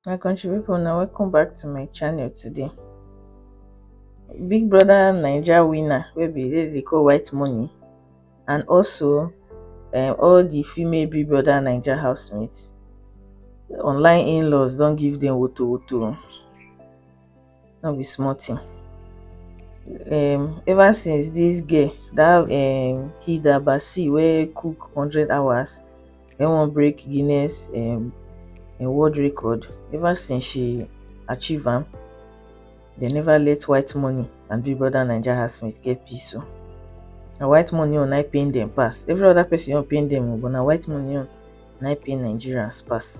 my country people now welcome back to my channel today big brother niger winner will be the call white money and also um, all the female big brother niger housemates online in-laws don't give them woto woto no be small thing um ever since this girl that um hilda baci wey cook hundred hours wey wan break guinness um world record ever since she achieve am they never let white money and big brother naija housemates get peace o na white money own na im pain dem pass every other person own pain dem o but na white money own na im pain nigerians pass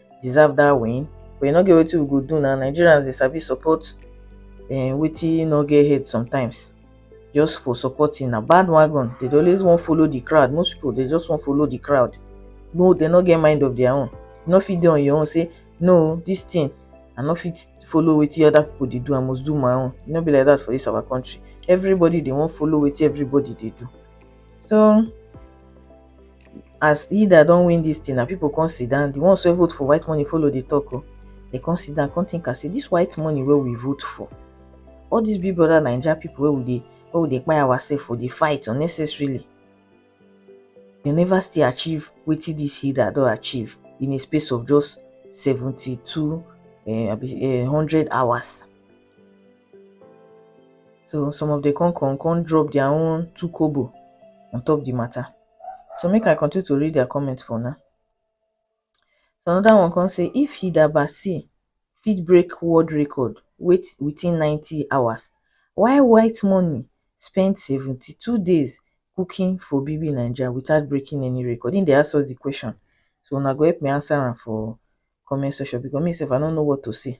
deserve that win but e no get wetin we go do na nigerians dey sabi support um, wetin no get head sometimes just for supporting na bandwagon they dey always wan follow the crowd most people dey just wan follow the crowd no they no get mind of their own you no fit dey on your own say no this thing i no fit follow wetin other people dey do i must do my own e no be like that for this our country everybody dey wan follow wetin everybody dey do so as Ida don win this thing na people come sit down the ones wey vote for white money follow dey talk o oh. they come sit down come think am say this white money wey we vote for all these big brother naija people wey we dey wey we dey kpai ourselves for dey fight unnecessarily they never still achieve wetin this Hilda don achieve in a space of just seventy-two um, eh, hundred hours So some of the con con con drop their own two kobo on top the matter. So make I continue to read their comments for now. So another one can say if Hidabasi fit break world record wait within 90 hours, why white money spend 72 days cooking for Bibi Nigeria without breaking any record? In the ask us the question. So now go help me answer for comment section because myself I don't know what to say.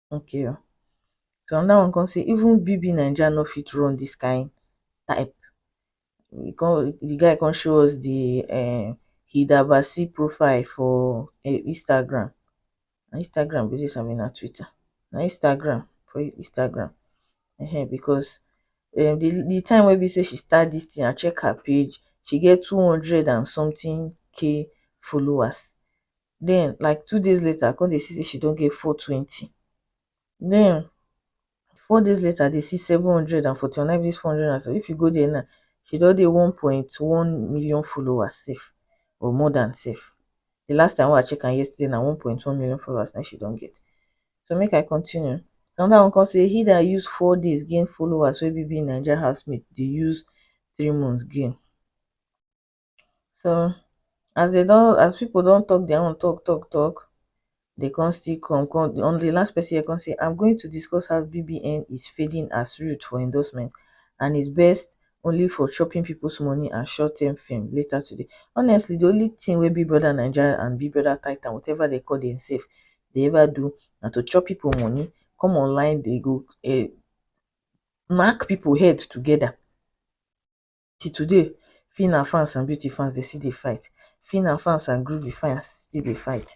okay o so anoda one kon sey even BBNaija no fit run dis kind type e kon di guy kon show us di um hidabasi profile for Instagram na Instagram be dis abi na Twitter na Instagram for Instagram um bikos um di time wey be sey she start dis tin I check her page she get two hundred and sometin k followers den like two days later i come dey see say she don get four twenty den four days later i dey see seven hundred and forty one every four hundred and so if you go there now she don dey one point one million followers sef or more than sef the last time wey i check am yesterday na one point one million followers na she don get so make i continue another one come say he that use four days gain followers wey BBNaija housemaid dey use three months gain so as dey don as people don talk their own talk talk talk dey come still come come on the last person here come say I'm going to discuss how BBN is fading as route for endorsement and is best only for chopping people's money and short term fame later today honestly the only thing wey Big Brother Naija and Big Brother Titan whatever they call themselves dey ever do na to chop people money come online dey go um knack people head together till today Phyna fans and Beauty fans dey still dey fight Phyna fans and Groovy fans still dey fight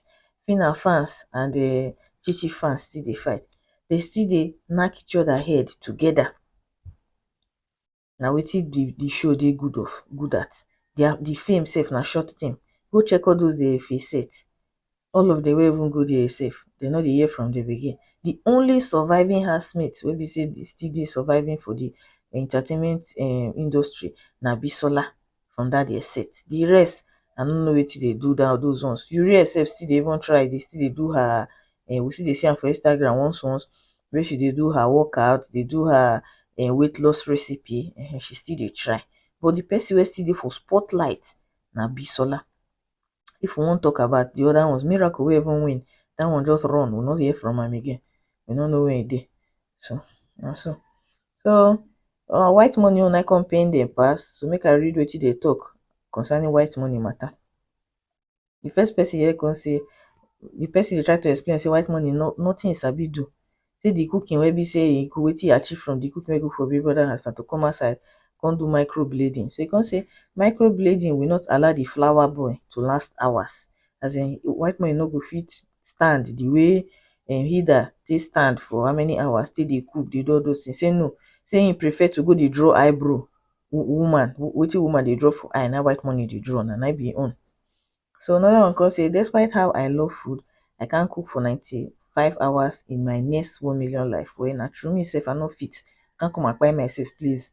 Phyna fans and um Chi Chi fans still dey fight dem still dey knack each other head together na wetin the the show dey good of good at their the fame sef na short thing go check all those their face set all of dem wey even go there sef dem no dey hear from dem again the only surviving housemate wey be say dey still dey surviving for the entertainment um industry na bisola from that their set the rest i no know wetin dey do that those ones yurie sef still dey even try dey still dey do her um we still dey see am for instagram once once wey she dey do her workout dey do her um weight loss recipe um she still dey try but the person wey still dey for spotlight na bisola if we wan talk about the other ones, Miracle wey even win, that one just run, we no hear from am again, we no know where e dey. So, na so. So, our white money own na come pain dem pass, so make I read wetin dem talk concerning white money matter. The first person here come say, the person dey try to explain say white money no nothing e sabi do, sey di cooking wey be sey e good wetin e achieve from di cooking wey e cook for big brother house na to come outside come do micro blading so e come sey micro blading will not allow di flour boil to last hours as in white morning no go fit stand di way em hilda take stand for how many hours take dey cook dey do all those things sey no sey e prefer to go dey draw eye brow woman wetin woman dey draw for eye na im white morning dey draw na im be im own So another one come say, despite how I love food, I can't cook for 95 hours in my next 1 million life. Well, na true me sef, I no fit. I can't come and buy myself, please.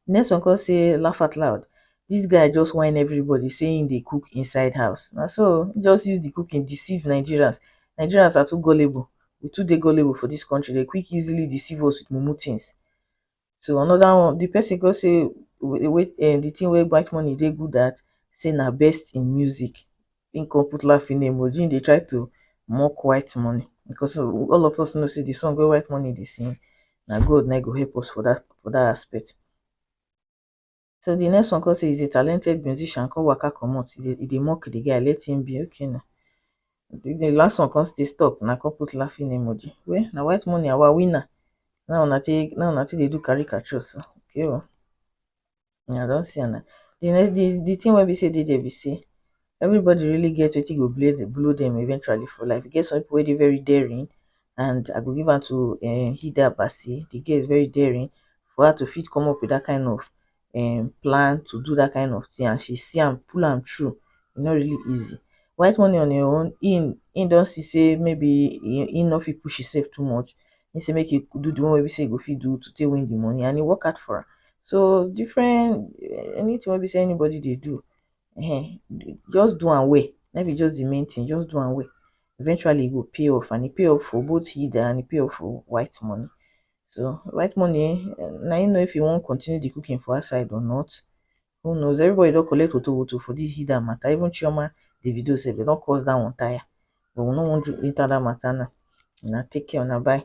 Next one come say, laugh out loud. This guy just whine everybody saying they cook inside house. Now so, just use the cooking, deceive Nigerians. Nigerians are too gullible. We too dey gullible for this country. They quick easily deceive us with mumu things. to another one the person come say wey um the thing wey white money dey good at say na best in music him come put laughing emoji him dey try to mock white money because all of us know say the song wey white money dey sing na God na him go help us for that for that aspect so the next one come say he's a talented musician come waka comot e dey e dey mock the guy let him be okay na the, the last one come still stop na come put laughing emoji well na white money our winner now una take now una take dey do caricature so okay o una don see am na the next the the thing wey be say dey there be say everybody really get wetin go blow dem eventually for life. E get some people wey dey very daring and I go give am to um Hilda Basi, the girl is very daring for her to fit come up with that kind of um plan to do that kind of thing and she see am pull am through, e no really easy. White money on im own, im im don see say maybe im no fit push himself too much, im say make e do the one wey be say e go fit do to take win the money and e work hard for am. So different, anything wey be say anybody dey do um just do am well life is just the main thing just do am well eventually e go pay off and e pay off for both hidden and e pay off for white money so white money eh, na you know if you wan continue the cooking for outside or not who knows everybody don collect woto woto for this hidden matter even chioma davido sef dem don cause that one tire but we no wan do enter that matter now una take care una bye